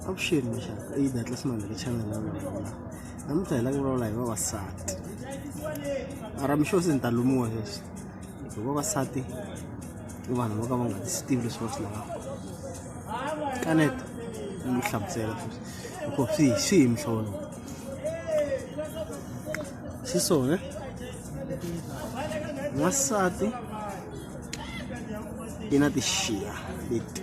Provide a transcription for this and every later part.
avuxeni maxaka i ta hatla simanga ka channel ya mina namuntlha hi la ku vulavula hi vavasati mara mixo se ni ta lumiwa sweswi hi vavasati i vanhu vo ka va nga ti swi tivi leswi va swi lavaka kaneta ni mi hlamusela sweswi hikuva swi hi swi hi mihlolo xi sone n'wansati i na tixiya leti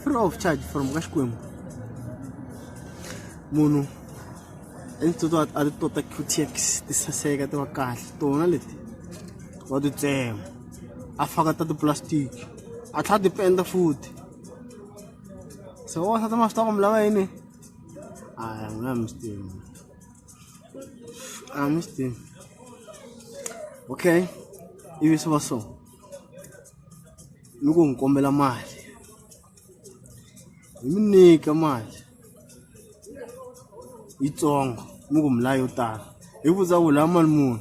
free of charge from ka xikwembu munhu etitoto a ti tota qtx ti saseka ti va kahle tona leti wa ti tsema a faka ta tiplastic a tlhela ti penda futhi se wasati ma swi ta ku mi lava yini aya mina mi swi tivi a mi swi tivi okay ivi swi va so ni ku n'wi kombela mali hi n'wi nyika mali yitsongo ni ku mali yo tala hi ku vutisa ku u lava mali muni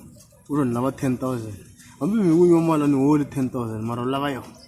u ri ni lava ten thousand hambi mi n'wi nyika mali a ni holi ten thousand mara u lava yona.